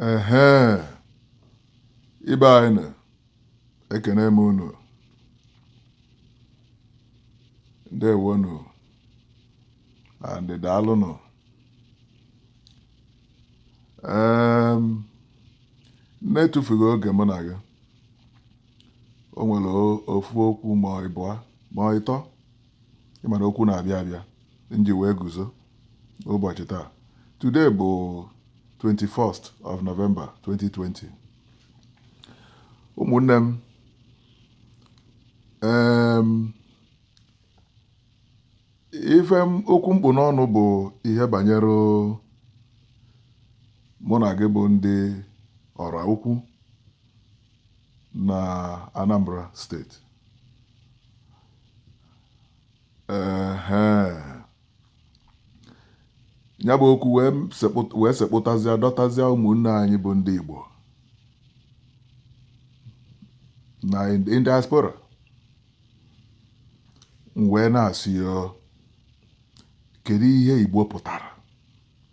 ehe ibe anyị na ekene m unu ndewonu and daalụnụ em na-etufughị oge mụ na gị o nwere o- ofu okwu ma ọ ịbụa ma ọ ịtọ ị ma na okwu na-abịa abịa m ji wee guzo ụbọchị taa today bụ 21st of November 2020 ụmụnne m em ife m- okwu m kpụ n'ọnụ bụ ihe banyere mụ na gị bụ ndị Oraukwu na Anambra steeti ya bụ okwu wee sekpụtazịa dọtazịa ụmụnne anyị bụ ndị Igbo na in diaspora wee na-asị kedu ihe Igbo pụtara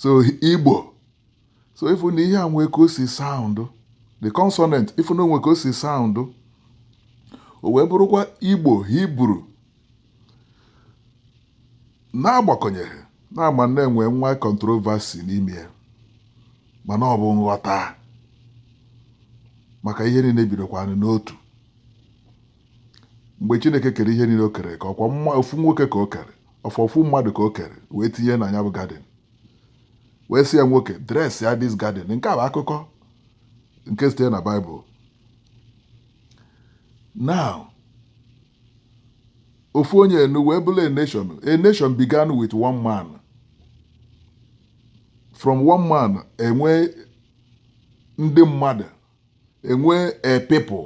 so igbo so ị fụ na ihe a nwee ka o si sound the consonant ị fụ na o nwee ka o si sound o wee bụrụkwa igbo hebrew na-agbakọnyeghị na a ma na-enwe nwa controversy n'ime ya mana ọ bụ nghọta maka ihe niile bidokwanụ n'otu mgbe chineke kere ihe niile o kere ka ọkwa ofu nwoke ka o kere ofu ofu mmadụ ka o kere wee tinye na ya bụ garden wee sị ya nwoke dress ya this garden nke a bụ akụkọ nke sitere na bible now ofu onye enu wee bụrụ a nation a nation began with one man from one man e nwee ndị mmadụ e nwee a people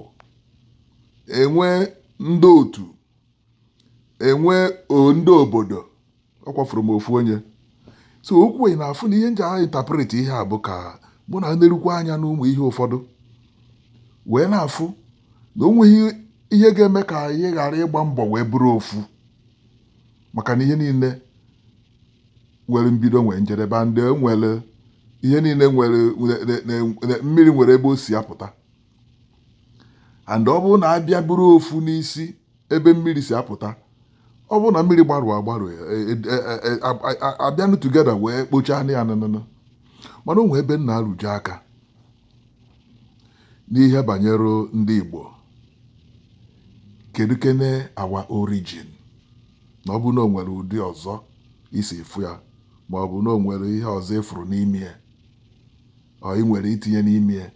e nwee ndị otu e nwee ndị obodo ọkwa from ofu onye so ọkwa ị na-afụ na ihe m ji a interpret ihe a bụ ka mụ na-enerukwa anya n'ụmụ ihe ụfọdụ wee na-afụ na o nweghị ihe ga-eme ka anyị ghara ịgba mbọ wee bụrụ ofu maka na ihe niile nwere mbido nwee njedebe ndị nwere ihe niile nwere mmiri nwere ebe o si apụta and ọ bụrụ na a bịa bụrụ ofu n'isi ebe mmiri si apụta ọ bụrụ na mmiri gbarụ agbarụ e, e, e, a bịanụ together wee kpochaa ya nanana mana o nwe ebe m na-arụtụ aka n'ihe banyere ndị Igbo kedu kene our origin na ọ bụ na o nwere ụdị ọzọ i si afụ ya ma ọ bụ na o nwere ihe ọzọ ị fụrụ n'ime ya or i nwere itinye n'ime ya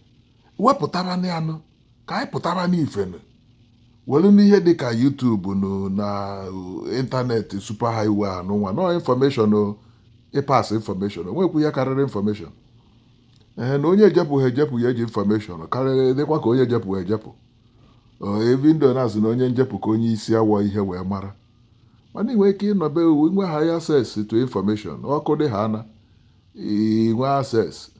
wepụtara na ya nụ ka anyị pụtara n'ife nụ welunụ ihe dị ka YouTube nụ na internet super highway anụnwa na information ị pass information o nwekwu ihe karịrị information ee na onye ejepụghị ejepụ ya eji information karịrị dịkwa ka onye ejepụghị ejepụ even though na a sị na onye njepụ ka onye isi awọ ihe wee mara mana i nwee ike ịnọ be i nwee higher access to information ọkụ dị haana i nwee access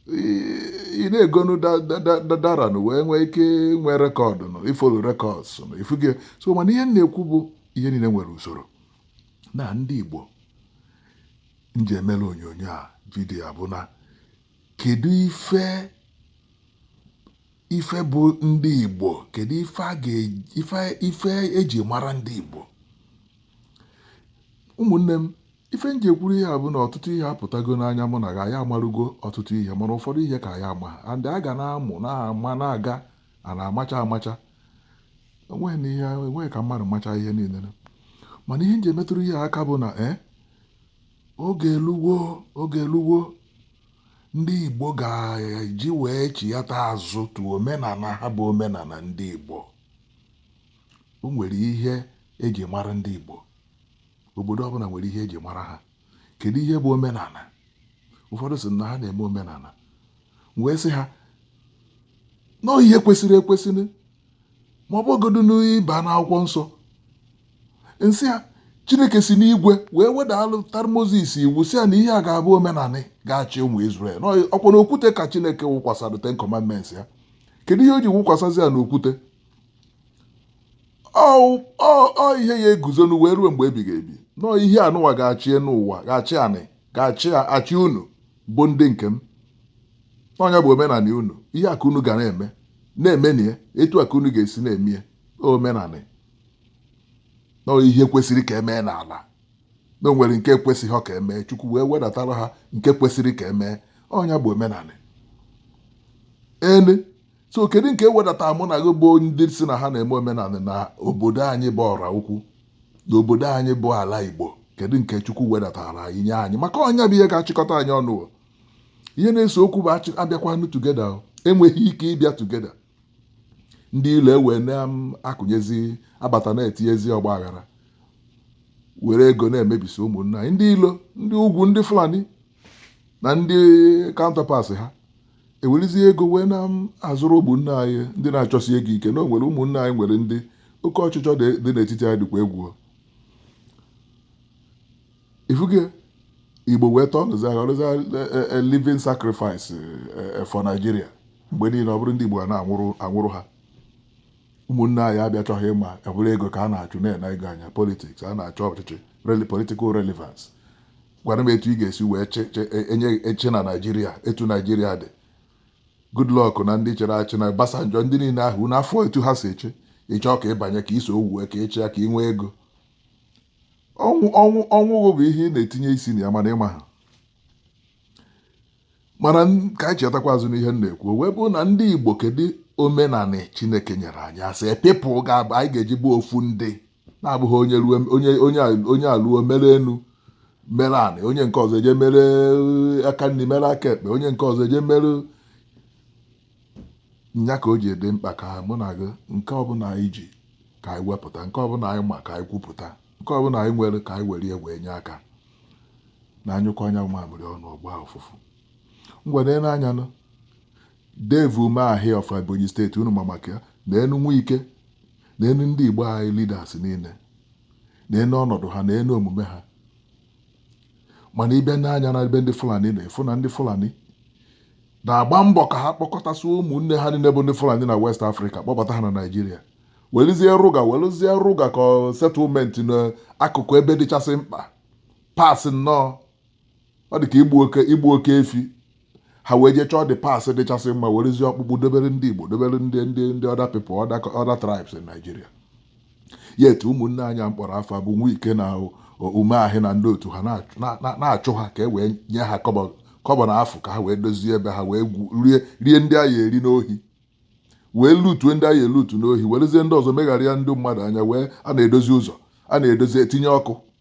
ị na-egonu data na wee nwee ike nwee record na ị follow records na ị fụgo so mana ihe m na-ekwu bụ ihe niile nwere usoro na ndị Igbo m ji emere onyonyo a video a bụ na kedu ife ife bụ ndị Igbo kedu ife eji mara ndị Igbo ụmụnne m ife m ji ekwuru ihe a bụ na ọtụtụ ihe apụtago n'anya mụ na gị anyị amarugo ọtụtụ ihe mana ụfọdụ ihe ka anyị ama and a ga na-amụ na-ama na-aga a na-amacha amacha enweghị na ihe enweghị ka mmadụ macha ihe niile mana ihe m ji emetụrụ ihe aka bụ na e eh, oge eluwo oge eluwo ndị Igbo ga-eji wee chighata azụ to omenala ha bụ omenala ndị Igbo o nwere ihe eji mara ndị Igbo obodo ọbụla nwere ihe eji mara ha kedu ihe bụ omenala ụfọdụ sị na ha na-eme omenala wee sị ha na ihe kwesịrị ekwesị ma ọ bụgodu na ị ba n'akwụkwọ nsọ m sị ha chineke si n'igwe wee wedatara moses iwu sị ya na ihe a ga-abụ omenala ga-achị ụmụ israel ọ kwa n'okwute ka chineke wụkwasara ten commandments a kedu ihe o ji wụkwasazị ya n'okwute ọ ihe ya-eguzonụ wee ruo mgbe ebighị ebi na ọ ihe anụwa ga-achị n'ụwa ga-achị anị ga-achị achị unu bụ ndị nke m ọ nya bụ omenala unu ihe a ka unu ga na-eme na-eme na ya etu a ka unu ga-esi na-eme ya omenala na ọ ihe kwesịrị ka e mee n'ala na o nwere nke kwesịghị ka e mee chukwu wee wedatara ha nke kwesịrị ka e mee ọ nya bụ omenala elu so kedu nke wedata mụ na gị bụ ndị si na ha na-eme omenala na obodo anyị bụ Oraukwu na obodo anyị bụ ala igbo kedu nke chukwu wedatara anyị nye anyị maka ọ nya bụ ihe ga-achịkọta anyị ọnụ ihe na-ese okwu bụ abịakwanụ together enweghị ike ịbịa together ndị ilo wee na-akụnyezi um, abata na-etinyezi ọgba aghara were ego na-emebisi ụmụnna anyị ndị ilo ndị ugwu ndị fulani na ndị counterparts ha ewelizie ego wee na-azụrụ ụmụnne anyị ndị na-achọsi ego ike na o nwere ụmụnne anyị nwere ndị oke ọchịchọ dị dị n'etiti anyị dịkwa egwu ị fugo igbo wee tọọ nụzi aghọrọzi a living sacrifice eh, eh, for Nigeria mgbe niile ọ bụrụ ndị igbo a na-anwụrụ anwụrụ ha ụmụnne anyị abịachọghị ịma ọ bụrụ ego ka a na-achụ na-ene ego anya politics a na-achọ ọchịchị reli- political relevance gwara m etu ị ga-esi wee enye e, achị na naijiria etu naijiria dị goodluck na ndị chịrị achị na Obasanjo ndị niile ahụ na-afụ etu ha si achị ị chọ ka ị banye ka iso owuwe ka ị chịa ka ị nwee ego ọnwụ ọnwụ ọnwụ bụ ihe ị na-etinye isi na ya mana ị maha mana ka anyị chetakwa azụ n'ihe m na-ekwu wee bụrụ na ndị igbo kedu omenanị chineke nyere anyị as a people ga-abụ anyị ga-eji bụ ofu ndị na-abụghị onye ruo onye onye onye aruo mere enu mere anị onye nke ọzọ eje mere eh, aka nri mere aka ekpe onye nke ọzọ eje mere nya ka o ji dị mkpa ka mụ na gị nke ọbụla anyị ji ka anyị wepụta nke ọbụla anyị ma ka anyị kwupụta nke ọbụla anyị nwere ka anyị were ya wee nye aka na anyụkọ anya mamịrị ọnụ ọ gbaa ụfụfụ ngwa nee anya nụ Dave Umahi of Ebonyi State, unu ma maka ya, neenụ Wike, neenụ ndị Igbo anyị leaders niile, neenụ ọnọdụ ha, neenụ omume ha. Mana ị bịa nee anya na ebe ndị Fulani na ị fụ na ndị Fulani na-agba mbọ ka ha kpọkọtasị ụmụnne ha niile bụ ndị Fulani na West Africa kpọbata ha na Naijiria welizie Ruga welizie Ruga ka settlement n'akụkụ ebe dịchasị mkpa parts nnọọ ọ dị ka igbu oke igbu oke efi ha wee jee chọọ the parts dịchasị mma werezie ọkpụkpụ dobere ndị Igbo dobere ndị ndị ndị other people other co- other tribes in Nigeria yet ụmụnne anyị a m kpọrọ afa bụ Wike na o- o- Umahi na ndị otu ha na-achụ- na- na- na-achụ ha ka e wee nye ha kọbọ kọbọ na afụ ka ha wee dozie ebe ha wee gwu- rie rie ndị ha ya-eri n'ohi wee lutue ndị ha ya-elutu n'ohi werezie ndị ọzọ megharịa ndị mmadụ anya wee a na-edozi ụzọ a na-edozi etinye ọkụ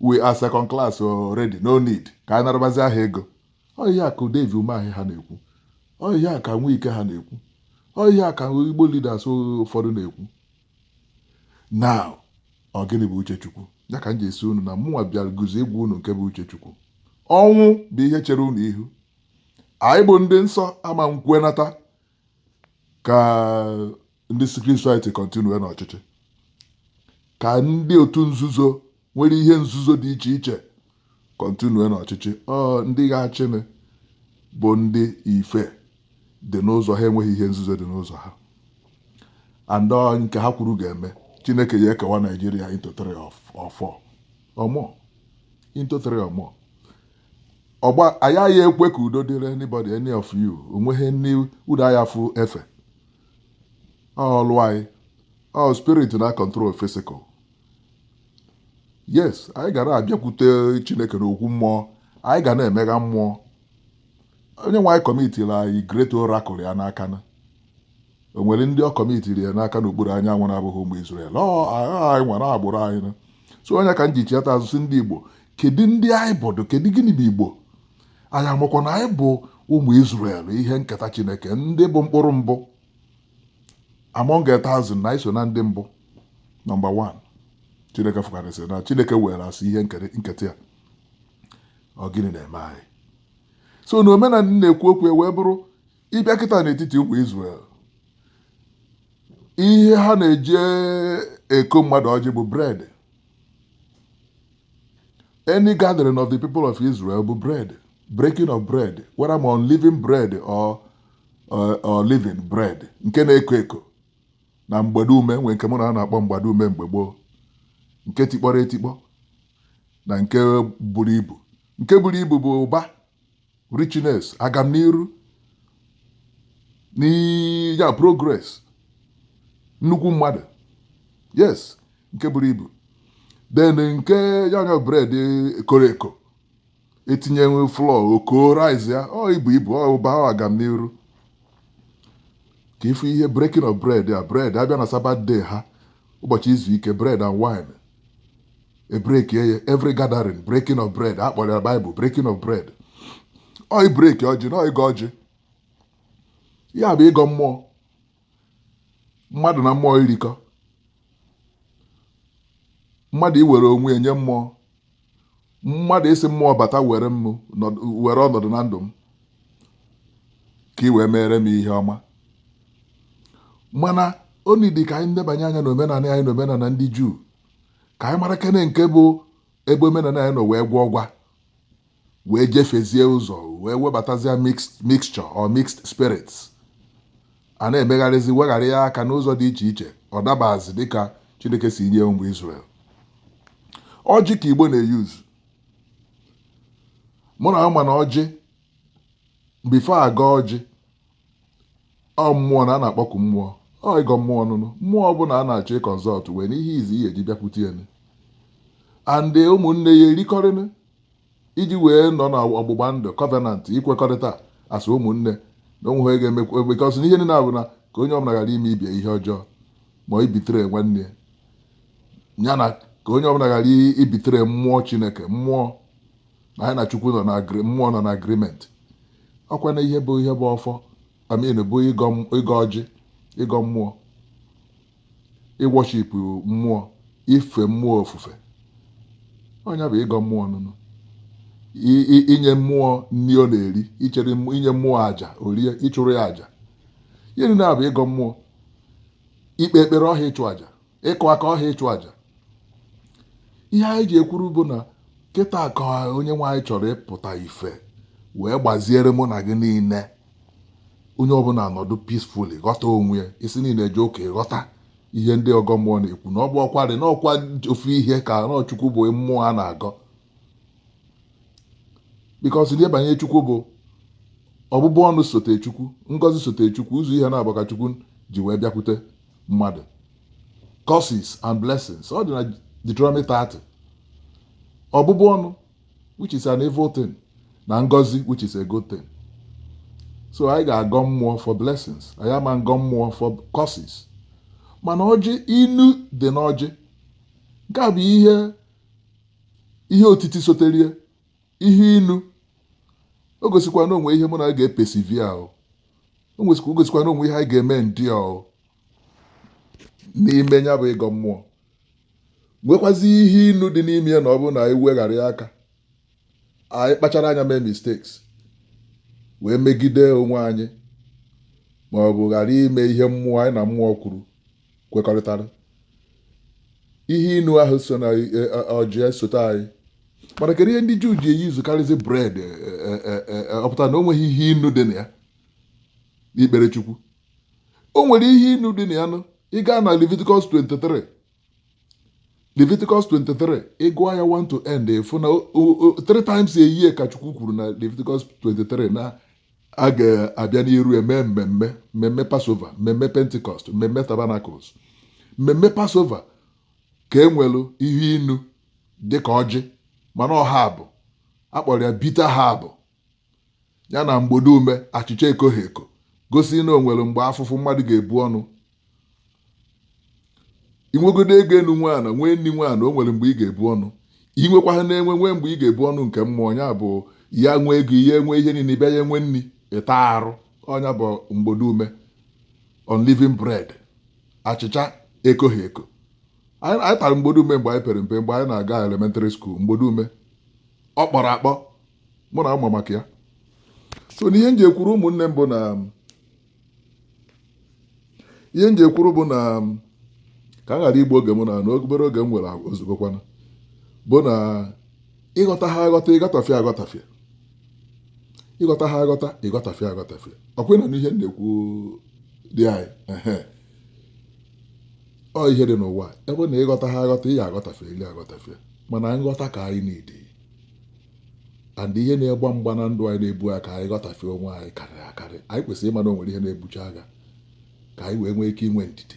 we are second class already no need ka anyị narabazia ha ego ọ ihe a ka Dave Umahi ha na-ekwu ọ ihe a ka Nwike ha na-ekwu ọ ihe a ka Igbo leaders ụfọdụ na-ekwu now ọ gịnị bụ uche Chukwu ya ka m ji esi unu na mụnwa bịara guzo ịgwa unu nke bụ uche Chukwu ọnwụ bụ ihe chere unu ihu anyị bụ ndị nsọ ama nkwenata ka ndị secret society continue n'ọchịchị ka ndị otu nzuzo nwere ihe nzuzo dị iche iche continue n'ọchịchị ọ ndị ga-achịnị bụ ndị ife dị n'ụzọ ha enweghị ihe nzuzo dị n'ụzọ ha and nke ha kwuru ga-eme Chineke ya ekewa Nigeria into three or four or more into three or more ọ yaghị ekwe ka udo dịrị anybody any of you onweghị ndị udo anya fụ efe ọlụ anyị ọ spirit na-acontrol physical yes anyị ga na-abịakwute Chineke n'okwu mmụọ anyị ga na-emega mmụọ onye nwe anyị kọmitiri anyị great oracle ya n'aka na o nwere ndị ọ kọmitiri ya n'aka n'okpuru anyanwụ na-abụghị ụmụ Israel anyị nwere agbụrụ anyị na so ọ ya ka m ji chiata ajụsị ndị Igbo kedu ndị anyị bụdụ kedu gịnị bụ Igbo anyị amakwa na anyị bụ ụmụ Israel ihe nketa Chineke ndị bụ mkpụrụ mbụ among a thousand nations ndị bụ nọmba 1 Chineke fụkarịsịrị na Chineke weere as ihe nketa ya ọ gịnị na-eme anyị so na omenala na-ekwu okwu e wee bụrụ ị bịa kịta n'etiti ụmụ Israel ihe ha na-eji eko mmadụ ọjị bụ bread Any gathering of the people of Israel bụ bread, breaking of bread, whether ma unleavened bread or leavened bread nke na-eko eko na mgbadume nwee nke mụ na a na-akpọ mgbadume mgbe gboo nke tikpọrọ etikpọ na nke buru ibu nke buru ibu bụ ụba richness agamniru ya progress nnukwu mmadụ yes nke buru ibu then nke ya anya bred koro eko e tinye flour o koo rise ya ọ ibu ibu ọ ụba ọ agamniru ka ị fụ ihe breaking of bread a bread a bịa na Sabbath day ha ụbọchị izu ike bread and wine e brekie ya every gathering breaking of bread a kpọrọ ya Bible breaking of bread ọ ibreki ọjị na ịgọ ọjị ya bụ ịgọ mmụọ mmadụ na mmụọ irikọ mmadụ iwere onwe enye mmụọ mmadụ ịsị mmụọ bata were m were ọnọdụ na ndụ m ka ị wee meere m ihe ọma mana oni dị ka anyị nebanye anya na omenala anyị na omenala ndị juu ka anyị mara kene nke bụ ebe omenala anyị nọ wee gwaa ọgwa wee jefezie ụzọ wee webatazie mixed mixture or mixed spirits A na-emegharịzi weghara ya aka n'ụzọ dị iche iche, ọ dabazi dịka Chineke si nye ụmụ Izrel. Ọjị ka Igbo na-euse. Mụ na ama na ọjị before a gọọ ọjị ọ mmụọ na a na-akpọku mmụọ ọ ịgọ mmụọ nụnụ mmụọ ọbụla a na-achọ ịconsult wee nyezie ihe eji bịakwute ya and ụmụnne ya erikọrịnụ iji wee nọ na ọgbụgba ndụ covenant ikwekọrịta asị ụmụnne na onwe ha ga-emekwa because na ihe niile a bụ na ka onye ọbụla ghara ime ibe ya ihe ọjọọ ma ịbetray nwanne ya ya na ka onye ọbụla ghara ịbetray mmụọ chineke mmụọ na anyị na chukwu nọ na agri mmụọ nọ na agreement ọkwa na ihe bụ ihe bụ ọfọ I mean bụ ịgọ m- ịgọ ọjị ịgọ mmụọ ịworship mmụọ ife mmụọ ofufe ọ nya bụ ịgọ mmụọ nụnụ inye mmụọ nri ọ na-eri ichere inye mmụọ aja o rie ịchụrụ ya aja ihe niile a bụ ịgọ mmụọ ikpe ekpere ọha ịchụ aja ịkụ aka ọha ịchụ aja ihe anyị ji ekwuru bụ na kịta ka onye nwe anyị chọrọ ịpụta ife wee gbaziere mụ na gị niile onye ọbụla anọdụ peacefully ghọta onwe ya isi ndị na-eje ụka ịghọta ihe ndị ọgọ mmụọ na-ekwu na ọ bụ ọkwa dị n'ọkwa ofu ihe ka na ọ chukwu bụ mmụọ a na-agọ because ihe banye chukwu bụ ọbụbụ ọnụ sote chukwu ngozi sote chukwu ụzọ ihe naabọ ka chukwu ji wee bịakwute mmadụ curses and blessings ọ dị na Deuteronomy 30 ọbụbụ ọnụ which is an evil thing na ngozi which is a good thing so anyị ga-agọ mmụọ for blessings anyị ama agọ mmụọ for curses mana ọjị inu dị n'ọjị nke a bụ ihe ihe otiti soterie ihe inu o gosikwa na o nwe ihe mụ na gị ga-epersevere o gosikwa na o nwe ihe anyị ga-eme ndị n'ime ya bụ ịgọ mmụọ nwekwazi ihe inu dị n'ime ya na ọ bụrụ na anyị weghara ya aka anyị kpachara anya mee mistakes wee megide onwe anyị ma ọ bụ ghara ime ihe mmụọ anyị na mmụọ kwuru kwekọrịtara ihe inu ahụ so na e, ọjị esote anyị mana kedu ihe ndị juu ji eusekarịzi bread e, e, ọpụta na o nweghị ihe inu dị na ya n'ikpere chukwu o nwere ihe inu dị na ya nụ ị gaa na Leviticus 23 Leviticus 23 ị gụọ ya 1 to end ị fụ na o- o- o- three times a year ka Chukwu kwuru na Leviticus 23 na a ga-abịa n'iru eme mmemme mmemme Passover mmemme Pentecost mmemme Tabernacles mmemme Passover ka e nwere ihe inu dịka ọjị mana ọ herb a kpọrọ ya bitter herb ya na mgbode ume achịcha ekoghị eko gosi na o nwere mgbe afụfụ mmadụ ga-ebu ọnụ inwegodo ego enu nwe ana nwee nri nwe ana o nwere mgbe ị ga-ebu ọnụ inwekwa ha na-enwe nwee mgbe ị ga-ebu ọnụ nke mmụọ ya bụ ya nwee ego ị ya enwe ihe niile bịa ya enwe nri ịta arụ ọ ya bụ mgbode ume unleavened bread achịcha ekoghị eko anyị anyị tara mgbode ume mgbe anyị pere mpe mgbe anyị na-aga elementary school mgbode ume ọ kpọrọ akpọ mụ na ama maka ya so na ihe m ji ekwuru ụmụnne m bụ na ihe m ji ekwuru bụ na ka a ghara igbu oge m na na obere oge m nwere o zugokwana bụ na ịghọta ha aghọta ịghọtafịa aghọtafịa ịghọta ha aghọta ịghọtafịa aghọtafịa ọkwa ị na-anụ ihe m na-ekwu di anyị ehe ọ ihe dị n'ụwa bụ na ịghọta ha aghọta ị ya aghọtafịalị aghọtafịa mana nghọta ka anyị na-edi and ihe na-agba mgba na ndụ anyị na-ebu agha ka anyị ghọtafie onwe anyị karịrị akarị anyị kwesịrị ịma na o nwere ihe na-ebucha agha ka anyị wee nwee ike inwe ndidi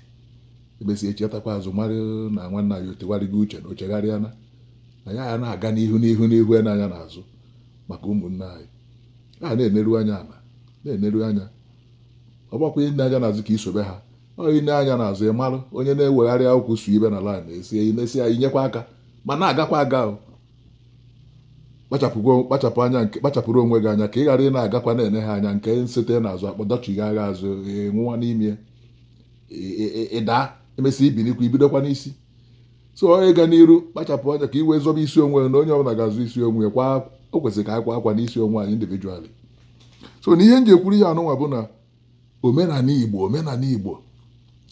emesịa echetakwa azụ mara na nwanne anyị ọ tụgharịgo uche na o chegharịana na ya ya na-aga n'ihu n'ihu n'ihu ya n'anya n'azụ maka ụmụnne anyị a na-eneru anya ala na-eneru anya ọ bụkwa ine anya n'azụ ka isobe ha ọ ine anya n'azụ ị mara onye na-ewegharị akwụkwọ su ibe na laịn esie imesi ya inyekwa aka ma na-agakwa aga kpachapụ anya nke kpachapụrụ onwe gị anya ka ị ghara ị na-agakwa na-ene ha anya nke nsete n'azụ akpọ dọchigha gị azụ nwụwa n'ime ịda emesị ibinikwa ibidokwa n'isi so onye ga n'iru kpachapụ anya ka i wee zọba isi onwe na onye ọbụla ga-azọ isi onwe ya kwa o kwesịrị ka anyị kwa akwa n'isi onwe anyị individually so na ihe m ji ekwuru ihe anụnwa bụ na omenala Igbo omenala Igbo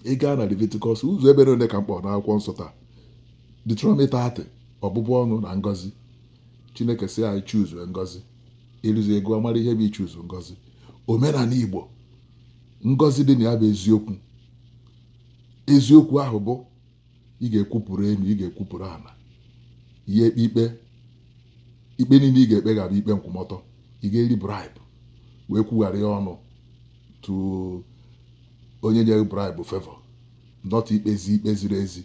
ị gaa na Leviticus ụzọ ebe ole ka m kpọ n'akwụkwọ nsọ taa Deuteronomy 30 ọbụbụ ọnụ na ngọzi Chineke sị anyị chuzuo ngọzi ịrụzi ego amara ihe bụ ichuzu ngọzi omenala Igbo ngọzi dị na ya bụ eziokwu eziokwu ahụ bụ ị ga-ekwupụrụ elu ị ga-ekwupụrụ ala ị ya ekpe ikpe ikpe niile ị ga-ekpe ga-abụ ikpe nkwụmọtọ ị ga-eri bribe wee kwugharịa ọnụ to onye nyere gị bribe favour not to ikpezi ikpe ziri ezi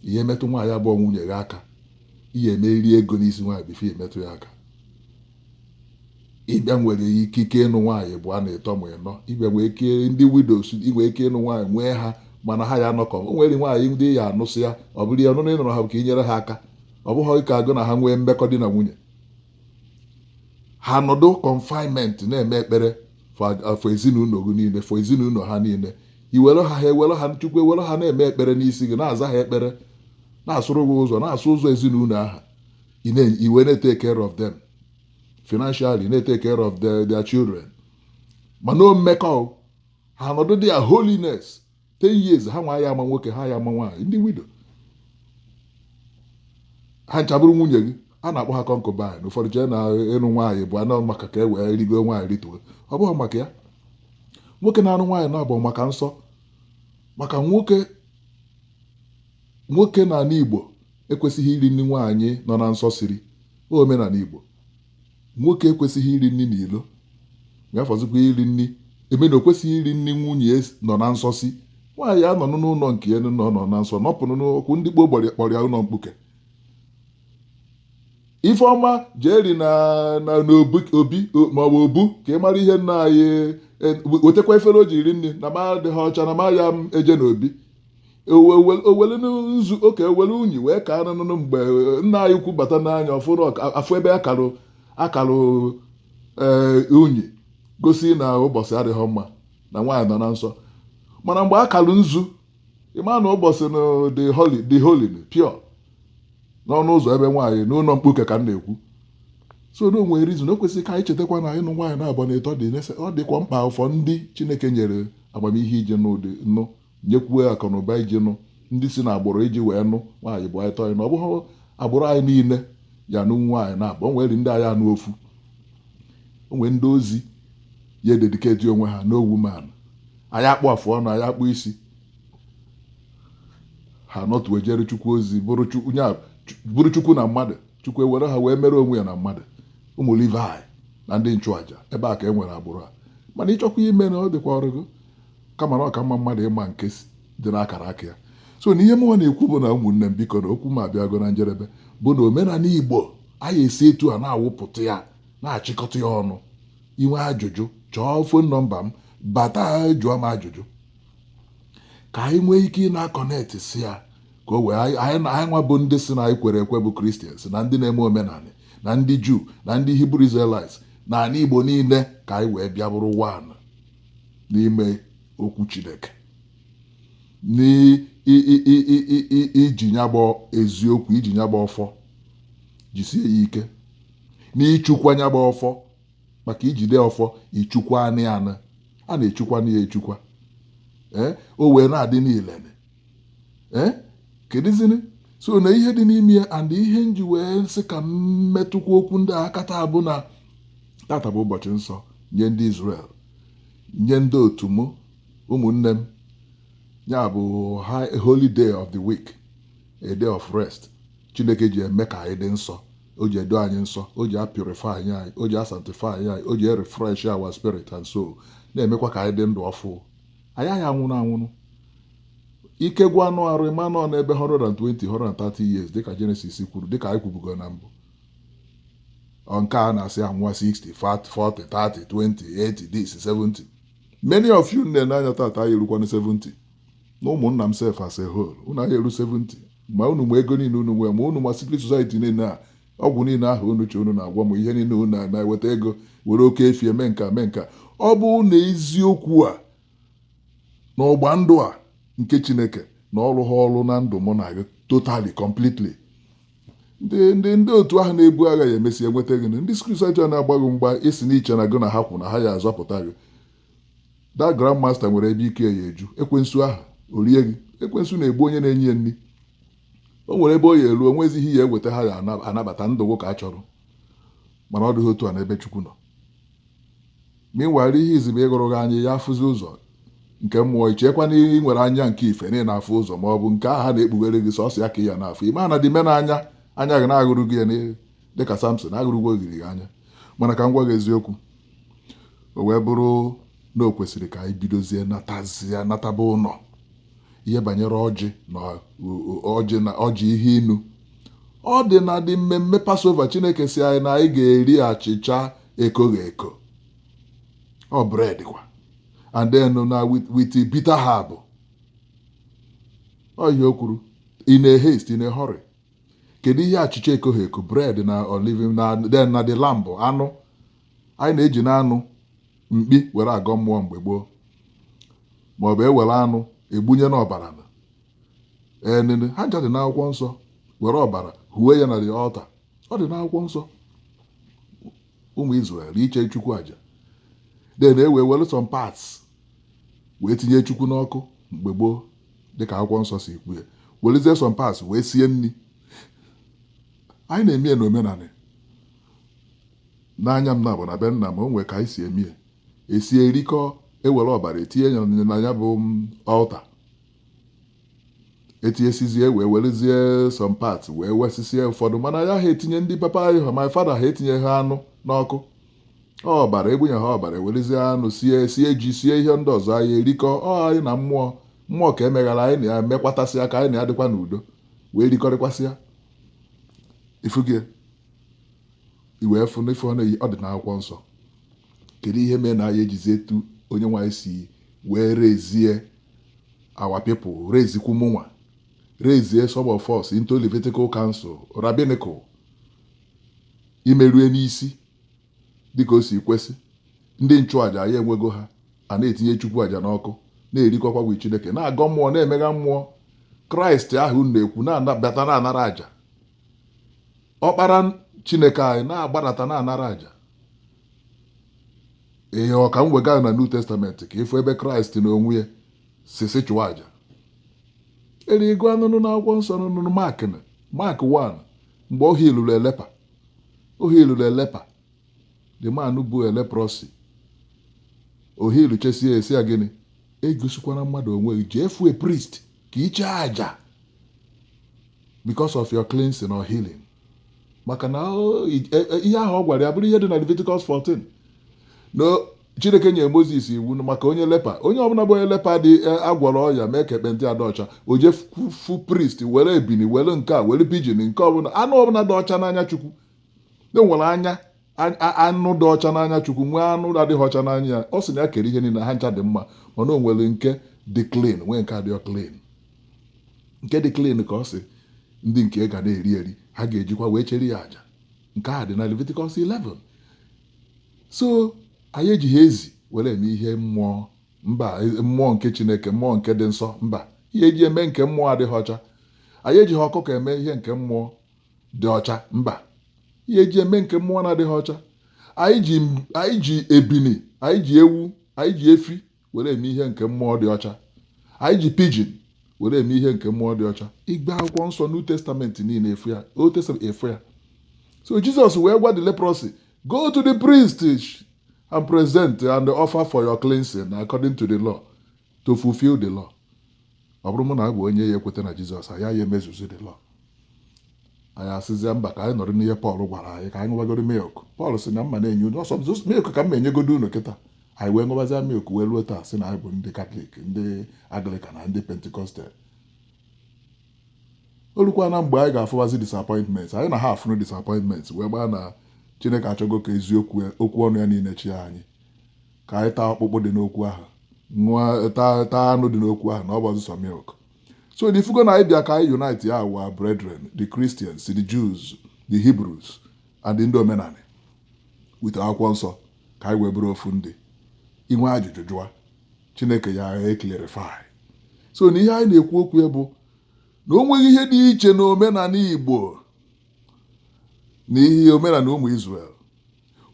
ị ya emetụ nwaanyị abụghị nwunye gị aka ị ga-emeriri ego n'isi nwaanyị before emetụ ya aka ị bịa nwere ikike ịnụ nwaanyị ịbụa na ịtọ ma ịnọ ị bịa nwee ike ndị widows i nwee ike ịnụ nwaanyị nwee ha mana ha ya anọkọ o nwere nwaanyị ndị ya anụ sị ya ọ bụrụ na ọnụnụ ị nụrụ ha bụ ka i nyere ha aka ọ bụghị ka gị na ha nwee mmekọ di na nwunye ha nọdụ confinement na-eme ekpere for ezinụlọ gị niile for ezinụlọ ha niile i were ha ha ewere ha nye Chukwu ewere ha na-eme ekpere n'isi gị na-aza ha ekpere na-asụrụ gị ụzọ na-asụ ụzọ ezinụlọ ha ị na- i wee na-etake care of them financially na-etake care of their, their children mana no mmekọ ha nọdụ dị ya holiness 10 years ha nwa aya ama nwoke ha aya ama nwaanyị ndị widow ha ncha bụrụ nwunye gị a na-akpọ ha concubine ụfọdụ chee na ịnụ nwaanyị ịbụa na ọ maka ka e wee rigo nwaanyị rituo ọ bụghị maka ya nwoke na-anụ nwaanyị naabọ maka nsọ maka nwoke Nwoke n'ala Igbo ekwesịghị iri nri nwaanyị nọ na nsọ siri. Ọ omenala Igbo, nwoke ekwesịghị iri nri n'ilo, ya fọzikwa iri nri emena o kwesịghị iri nri nwunye nọ na nsọ si. Nwaanyị anọnụ n'ụlọ nke ya nọ nọ na nsọ nọpụnụ n'ọkwụ ndị gboo gbọrọ ya kpọrọ ya ụlọ mkpuke. Ifeọma jee ri na na n'obi obi o- maọbụ obu ka ị mara ihe nna anyị e, wetakwa efere o ji iri nri na m adịghị ọcha na m aya m eje n'obi o welu nzu oke o welu unyi wee kaa n'ụnọ mgbe eh, nna anyị ukwu bata n'anya ọ fụrụ afụ ebe a karụ akarụ eh, unyi gosi na ụbọchị adịghị mma na nwaanyị nọ na nsọ mana mgbe a karụ nzu ị ma na ụbọchị na dị holy dị holy pure n'ọnụ ụzọ ebe nwaanyị n'ụlọ mkpuke ka m na-ekwu so na o nwere reason o kwesịrị ka anyị chetakwa na ịnụ nwaanyị naabọ na ịtọ dị ọ dịkwa mkpa for ndị chineke nyere amamihe iji nụ iji nụ nyekwue akụnụba iji nụ ndị si n'agbụrụ iji wee nụ nwaanyị ịbụa na ịtọ anyị na ọ bụghị agbụrụ anyị niile ya anụ nwaanyị naabọ o nwere ndị ya anụ ofu o nwere ndị ozi ya ededicate onwe ha no woman aya akpụ afụ ọnụ aya akpụ isi ha nọtụ ejere chukwu ozi bụrụ Chu- onye a- Chu- bụrụ chukwu na mmadụ chukwu ewere ha wee mere onwe ya na mmadụ ụmụ Levi na ndị nchụaja ebe a ka e nwere agbụrụ a mana ị chọkwa ime na ọ dịkwa ọrụ gị kama na ọ ka mma mmadụ ịma nke dị n'akara aka ya so na ihe mụnwa na-ekwu bụ na ụmụnne m biko na okwu m abịago na njedebe bụ na omenala Igbo anyị e si etu a na-awụpụta ya na-achịkọta ya ọnụ i nwee ajụjụ chọọ phone number m bata jụọ m ajụjụ ka anyị nwee ike ị na-aconnect sị ya ka o wee anyị nwa bụ ndị sị na anyị kwere ekwe bụ Christians na ndị na-eme omenala na ndị Jew na ndị Hebrew Israelites na ala igbo niile ka anyị wee bịa bụrụ one n'ime okwu Chineke n'iji nya bụ eziokwu iji nya bụ ọfọ jisie ya ike n'ichukwa nya bụ ọfọ maka ijide ọfọ ichukwa anị anị a na-echukwa na ya echukwa ee o wee na-adị ile ee kedụzini so na ihe dị n'ime ya and ihe nji wee sị ka m metụkwa okwu ndị a aka taa bụ na tata bụ ụbọchị nsọ nye ndị Israel nye ndị otu m ụmụnne m ya bụ holy day of the week a day of rest Chineke ji eme ka anyị dị nsọ o ji edo anyị nsọ o ji apurify anyị o ji asanctify anyị o ji erefresh our spirit and soul na-emekwa ka anyị dị ndụ ọfụ anyị aya anwụnụ anwụnụ ike gwụ anụ arụ ị manụ n'ebe 120 130 years dịka Genesis kwuru dịka anyị kwubugo na mbụ nke a na-asị anwụwa 60 40 30 20 80 this 70 many of you na-ene m anya tata aya erukwanụ 70 na ụmụnna m sef as a whole unu aya eru 70 ma unu ma ego niile unu nwee ma unu ma secret society niile a Ọgwụ niile ahụ unu che unu na-agwọ m, ihe niile unu na-eme eweta ego, were oke efi eme nke a mee nke a. Ọ bụ na eziokwu a na ọgba ndụ a nke Chineke na ọ rụha ọrụ na ndụ mụ na gị totally completely ndị ndị ndị otu ahụ na-ebu agha ya emesi enweta gị ndị secret society a na-agba gị mgba isi na i che na gị na ha kwụ na ha ya azọpụta gị that grandmaster nwere ebe ike ya eju ekwensu ahụ orie gị ekwensu na-egbu onye na-enye ya nri o nwere ebe ọ ya eru o nwezi ihe ị ya eweta ha ya anabata ndụ gụ ka a chọrọ mana ọ dịghị otu a n'ebe Chukwu nọ meanwhile ihe izizi bụ ịghụrụ gị anya ị ya afụzi ụzọ nke mmụọ i chekwa na ị nwere anya nke ife na ị na-afụ ụzọ ma ọ bụ nke ahụ a na-ekpughere gị sọsọ ya ka ị ya na-afụ ị ma na the main anya anya gị na a ghụrụ gị ya dịka Samson a ghụrụgwo ogiri gị anya mana ka m gwa gị eziokwu o wee bụrụ na o kwesịrị ka anyị bidozie natazia nataba ụlọ ihe banyere ọjị na ọjị ihe inu ọ dị na the mmemme Passover Chineke sị anyị na anyị ga-eri achịcha ekoghị eko ọ bread kwa and then na with bitter herb ọ ihe o kwuru in a haste in a hurry kedu ihe achịcha ekoghị eko bread na olive and then na the lamb anụ anyị na-eji na anụ mkpi were agọ mmụọ mgbe gboo maọbụ e were anụ egbunye n'ọbara enene ha ncha dị n'akwụkwọ nsọ were ọbara huwe ya na the altar ọ dị n'akwụkwọ nsọ ụmụ Israel iche Chukwu aja then e wee were some parts wee tinye Chukwu n'ọkụ mgbe gboo dịka akwụkwọ nsọ si kwu ya werezie some parts wee sie nri anyị na-eme ya n'omenala n'anya m na-abụ na be nna m o nwee ka anyị si eme ya esie erikọ ewere ọbara etinye ya na ya bụ altar etinyesizie wee werezie some parts wee wee sie ụfọdụ mana ya ha etinye ndị papa anyị ha my father ha etinye ha anụ n'ọkụ ọbara egbunye ha ọbara ewerezie anụ sie sie ji sie ihe ndị ọzọ anyị erikọọ anyị na mmụọ ka emeghara anyị na ya mekwatasịa ka anyị na ya dịkwa n'udo wee rikọrịkwasịa ifugie i wee fụ na ife ọ na-eyi ọ dị n'akwụkwọ nsọ kedu ihe mere na anyị ejizi etu onye nwe anyị si wee rezie our people rezikwu mụnwa rezie some of us into Levitical Council rabbinical imerue n'isi dịka o si kwesị ndị nchụaja ya enwego ha a na-etinye chukwu aja n'ọkụ na-erikọkwa with chineke na-agọ mmụọ na-emegha mmụọ kraịst ahụ na-ekwu na-abata na-anara aja ọkpara chineke anyị na-agbadata na-anara aja ee ka m wega na new testament ka ịfụ ebe kraịst n'onwe ya si sị chụọ aja erigo anụnụ n'akwụkwọ nsọ nụnụ mark mark 1 mgbe ọ hilụrụ a leper ọ hilụrụ a leper the man bụ a leprosy o hiluchesie sị ya gịnị egosikwana mmadụ onwe gị jee fụ a priest ka i chee aja because of your cleansing or healing maka na ihe ahụ ọ gwara ya bụrụ ihe dị na Leviticus 14 na Chineke nyere Mozis iwu na maka onye leper, onye ọbụla bụ onye leper dị e, agwọrọ ọrịa mee ka ekpenta ya dị ọcha, o jee fụ- fụ priest were ebini were nke a were pigeon nke ọbụla anụ ọbụla dị ọcha n'anya Chukwu e nwere anya a- a- anụ dị ọcha n'anya Chukwu nwee anụ adịghị ọcha n'anya ya ọ sị na ya kere ihe niile ha ncha dị mma mana o nwere nke dị clean nwee nke adịghị clean nke dị clean ka ọ sị ndị nke ga na-eri eri ha ga-ejikwa wee chere ya aja nke a dị na Leviticus 11 so anyị ejighị ezi were eme ihe mmụọ mba e, mmụọ nke chineke mmụọ nke dị nsọ mba ihe eji eme nke mmụọ adịghị ọcha anyị ejighị ọkụkọ eme ihe nke mmụọ dị ọcha mba ihe eji eme nke mmụọ na-adịghị ọcha anyị ji ebini anyị ji ewu anyị ji efi were eme ihe nke mmụọ dị ọcha anyị ji pigeon were eme ihe nke mmụọ dị ọcha ị gbaa akwụkwọ nsọ new testament niile ị fụ ya old testament ị fụ ya so jizọs wee gwa the leprosy go to the priest and present and offer for your cleansing according to the law to fulfill the law ọ bụrụ mụ na abụ onye ya ekweta na jizọs anyị ya emezuzi the law anyị asịzie mba ka anyị nọrọ n'ihe pọl gwara anyị ka anyị ṅụbagoro milk pọl sị na m ma na-enye unu sọsọ milk ka m enyegodo unu kịta anyị wee ṅụbazia milk wee ruo taa sị na anyị bụ ndị katọlik ndị anglikan na ndị pentikọstal o lukwa na mgbe anyị ga-afụwazi disappointment anyị na ha afụrụ disappointment wee gbaa na chineke achọgo ka eziokwu okwu ọnụ ya niile chịa anyị ka anyị taa ọkpụkpụ dị n'okwu ahụ ṅụọ taa taa anụ dị n'okwu ahụ na ọ bụghị sọsọ milk so na ị fụgo na anyị bịa ka anyị unite our brethren the Christians the Jews the Hebrews and ndị omenanị with akwụkwọ nsọ ka anyị wee bụrụ ofu ndị i nwee ajụjụ jụa chineke ya clarify so na ihe anyị na-ekwu okwu ya bụ na o nweghị ihe dị iche na omenanị igbo na ihe omenanị ụmụ Israel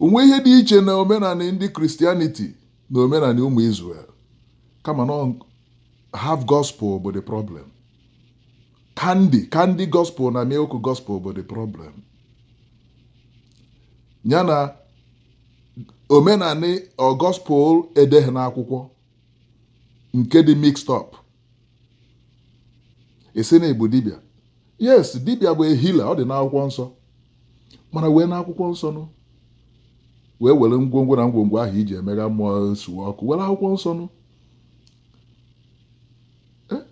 o nweghị ihe dị iche na omenanị ndị Christianity na omenanị ụmụ Israel kama na half gospel bụ the problem candy candy gospel na milk gospel bụ the problem ya na omenanị gospel e deghị n'akwụkwọ nke dị mixed up ị sị na ị bụ dibịa yes dibịa bụ a healer ọ dị n'akwụkwọ nsọ mana wee n'akwụkwọ nsọ nụ wee were ngwongwo na ngwongwo ahụ i ji emegha mmụọ suwe ọkụ were akwụkwọ nsọ nụ eh?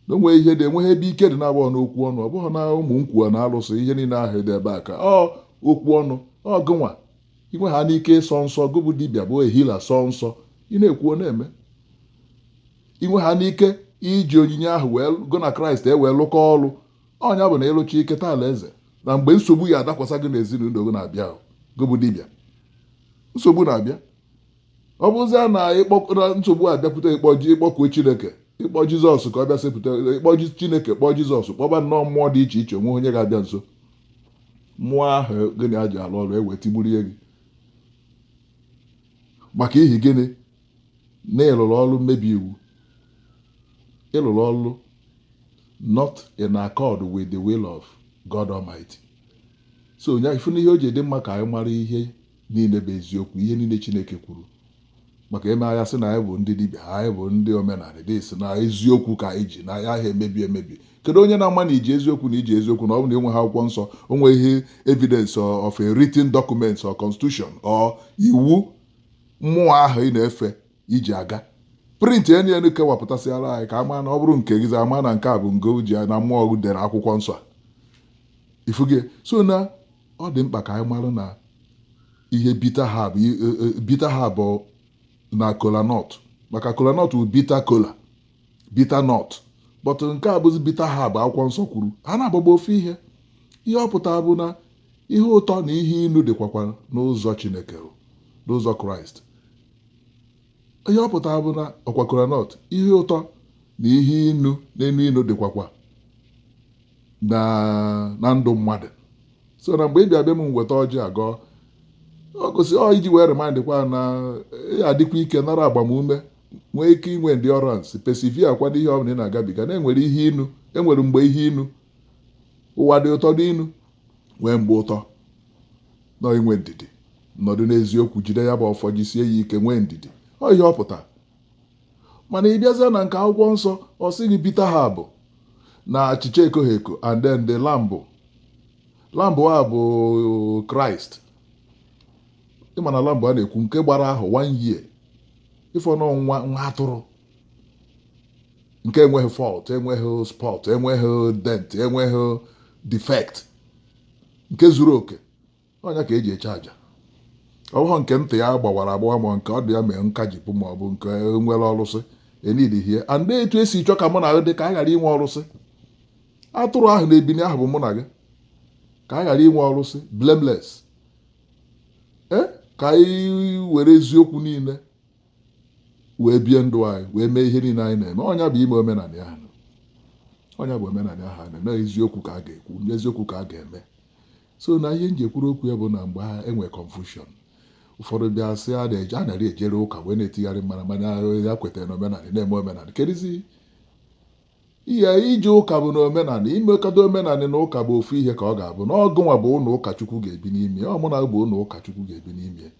na o nweghị ihe dị enweghị ebe ike dị na-agba n'okwu ọnụ ọ bụghị na ụmụ nkwuwa na alụsị ihe niile ahụ dị ebe a ka ọ okwu ọnụ ọ gụ nwa i nwehanụ ike ịsọ nsọ gụ bụ dibịa bụ a healer sọ nsọ ị na-ekwu ọ na-eme i nwehanụ ike iji onyinye ahụ wee gụ na kraịst ewee lụkọ ọlụ ọ nya bụ na ị lụcha i keta alaeze na mgbe nsogbu ya adakwasa gị n'ezinụlọ gị na-abịa gị bụ dibịa nsogbu na-abịa ọ bụzia na nsogbu abịakwute ị kpọ ji ị kpọkuo chineke ị kpọ jizọs ka ọ bịa sepụta ị kpọ chineke kpọọ jizọs kpọba nnọọ mmụọ dị iche iche o nweghị onye ga-abịa nso mmụọ ahụ gị na ya ji alụ ọrụ ewee tigburie gị maka ihi gịnị na ị lụlụ ọlụ mmebi iwu ị lụlụ ọlụ not in accord with the will of God Almighty so onye ị fụ na ihe o ji dị mma ka anyị mara ihe niile bụ eziokwu ihe niile Chineke kwuru maka e mee anyị asị na anyị bụ ndị dibịa anyị bụ ndị omenanị ndị sị na eziokwu ka anyị ji na anyị aha emebi emebi kedu onye na-ama na i ji eziokwu na i ji eziokwu na ọ bụ na enweghị akwụkwọ nsọ o nweghị evidence of a written document or constitution or iwu mmụọ ahụ ị na-efe iji aga print enu enu kọwapụtasịara anyị ka a ma na ọ bụrụ nke gịzi ama na nke a bụ ngo ji na mmụọ ọgụ dere akwụkwọ nsọ ị fụgo so na ọ dị mkpa ka anyị mara na ihe bitter herb bitter herb na kola nut maka kola nut bụ bitter kola bitter nut but nke a bụzi bitter herb akwụkwọ nsọ kwuru ha na-agbagba ofu ihe ihe ọ pụtara bụ na ihe ụtọ na ihe inu dịkwakwa n'ụzọ chineke o, n'ụzọ kraịst ihe ọ pụtara bụ na ọkwa kolanut ihe ụtọ na ihe inu na-enu inu dịkwakwa na na ndụ mmadụ so na mgbe ị bịa be m m weta ọjị agọọ ọ gosi ọ iji wee remind kwa na ị ya-adịkwa ike nara agbamume nwee ike inwe endurance persevere kwa n'ihe ọbụla ị na-agabiga na enwere ihe inu enwere mgbe ihe inu ụwa dị ụtọ dị inu nwee mgbe ụtọ nọ inwe ndidi nọdụ n'eziokwu jide ya bụ ọfọ jisie ya ike nwee ndidi ọ ihe ọ pụta mana ị bịazịa na nke akwụkwọ nsọ ọ sị gị bitter herb na achịcha ekoghị eko and then the lamb lamb a bụ kraịst ịma na lamb a na-ekwu nke gbara ahọ one year ịfọ na nwa nwa atụrụ nke enweghị fault enweghị spot enweghị dent enweghị defect nke zuru oke ọ nya ka eji achụ aja ọ bụghị nke ntị ya gbawara agbawa ma nke ọdụ ya mee nkajipụ ma ọ bụ nke nwere ọrụsị enidihie and etu esi chọ ka mụ na gị dị ka a ghara inwe ọrụsị atụrụ ahụ na ebini ahụ bụ mụ na gị ka a ghara inwe ọrụsị blameless ee ka anyị were eziokwu niile wee bie ndụ anyị wee mee ihe niile anyị na-eme ọ nya bụ ime omenanị a ọ nya bụ omenanị ahụ na-eme eziokwu ka a ga-ekwu eziokwu ka a ga-eme so na ihe m ji ekwuru okwu ya bụ na mgbe ha enwe confusion ụfọdụ bịa sị a na-eji a narị ejere ụka wee na-etigharị mara mana ya kwetara na omenanị na-eme omenanị kedizi Ihe ije ụka bụ na omenanị, imekọta omenanị na ụka bụ ofu ihe ka ọ ga-abụ na ọ gụnwa bụ ụlọ ụka Chukwu ga-ebi n'ime ya, ọ mụnwa bụ ụlọ ụka Chukwu ga-ebi n'ime ya.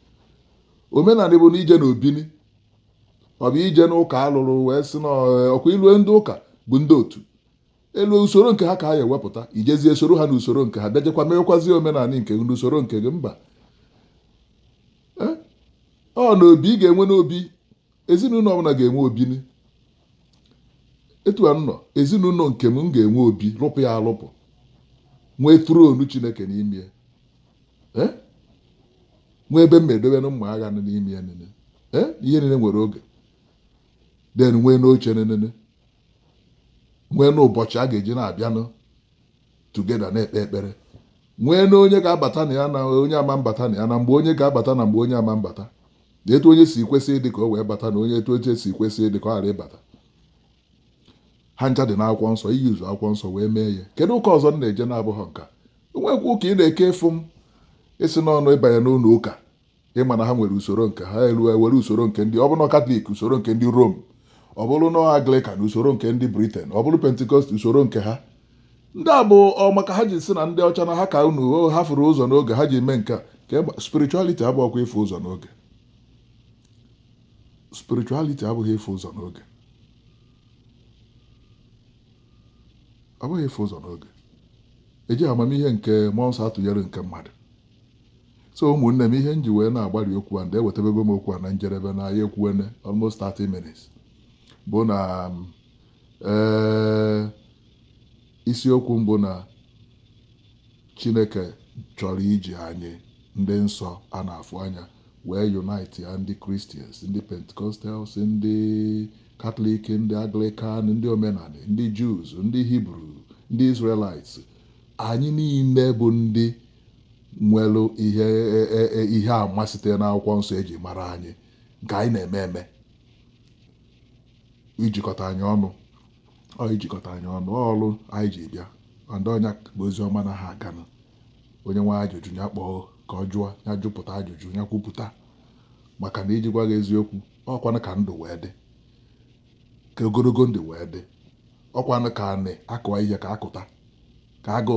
Omenanị bụ na ije na obini, ọ bụ ije n'ụka a lụrụ wee sị na ọkwa i lue ndị ụka bụ ndị otu elu usoro nke ha ka ha ya-ewepụta ijezie soro ha n'usoro nke ha bịajekwa mewekwazie omenanị nke gị n'usoro nke gị mba ọ na obi ị ga-enwe n'obi ezinụlọ ọbụla ga-enwe obini etu a nọ ezinụlọ nke m ga-enwe obi rụpụ ya arụpụ nwee throne chineke n'ime eh? nwee ebe m edobe na mma agha n'ime ya nene eh? ihe niile nwere oge then nwee n'oche nenene nwee n'ụbọchị a ga-eji na-abịanụ together na-ekpe ekpere nwee na onye ga-abata na ya na onye ama abata na ya na mgbe onye ga-abata na mgbe onye ama abata na etu onye si kwesị ịdị ka o wee bata na onye etu onye si kwesị ịdị ka ọ ghara ịbata ha ncha dị n'akwụkwọ nsọ iji ụzọ akwụkwọ nsọ wee mee ya kedu ụka ọzọ m na-eje na-abụghị nke a o nwekwa ụka ị na-eke from isi n'ọnụ ịbanye n'ụlọ ụka ịma na ha nwere usoro nke ha e nwere usoro nke ndị ọ bụrụ katọlik usoro nke ndị rom ọ bụrụ na anglikan usoro nke ndị briten ọ bụrụ pentikọst usoro nke ha And ọ bụ maka ha ji si na ndị ọcha na ha ka unu ha furu ụzọ n'oge ha ji mee nke a spirituality abụghịkwa ịfụ ụzọ n'oge spirituality abụghị ịfụ ụzọ n'oge ọ bụghị ịfụ ụzọ n'oge eji amamihe nke mmụọ nsọ atụnyere nke mmadụ so ụmụnne m ihe m ji wee na-agbalị okwu a and ewetabego m okwu a na njedebe na anyị ekwuwene almost 30 minutes bụ na um, Ee, isiokwu m bụ na Chineke chọrọ iji anyị ndị nsọ a na-afụ anya wee unite ya ndị Christians, ndị Pentecostals, ndị Katọlik, ndị Anglikan, ndị omenani, ndị Jews, ndị Hibru, ndị Israelites, anyị niile bụ ndị nwere ihe e, e, e, ihe ama site n'akwụkwọ nsọ eji mara anyị nke anyị na-eme eme ijikọta anyị ọnụ ọ ijikọta anyị ọnụ ọ ọrụ anyị ji bịa and ọ nya bụ ozi ọma na ha ga-anụ onye nwe ajụjụ ya kpọọ ka ọ jụọ ya jụpụta ajụjụ ya kwupụta maka na iji gwa gị eziokwu ọkwanụ ka ndụ wee dị ka ogologo ndụ wee dị ọkwanụ ka anị akụwa ihe ka akụta ka agụ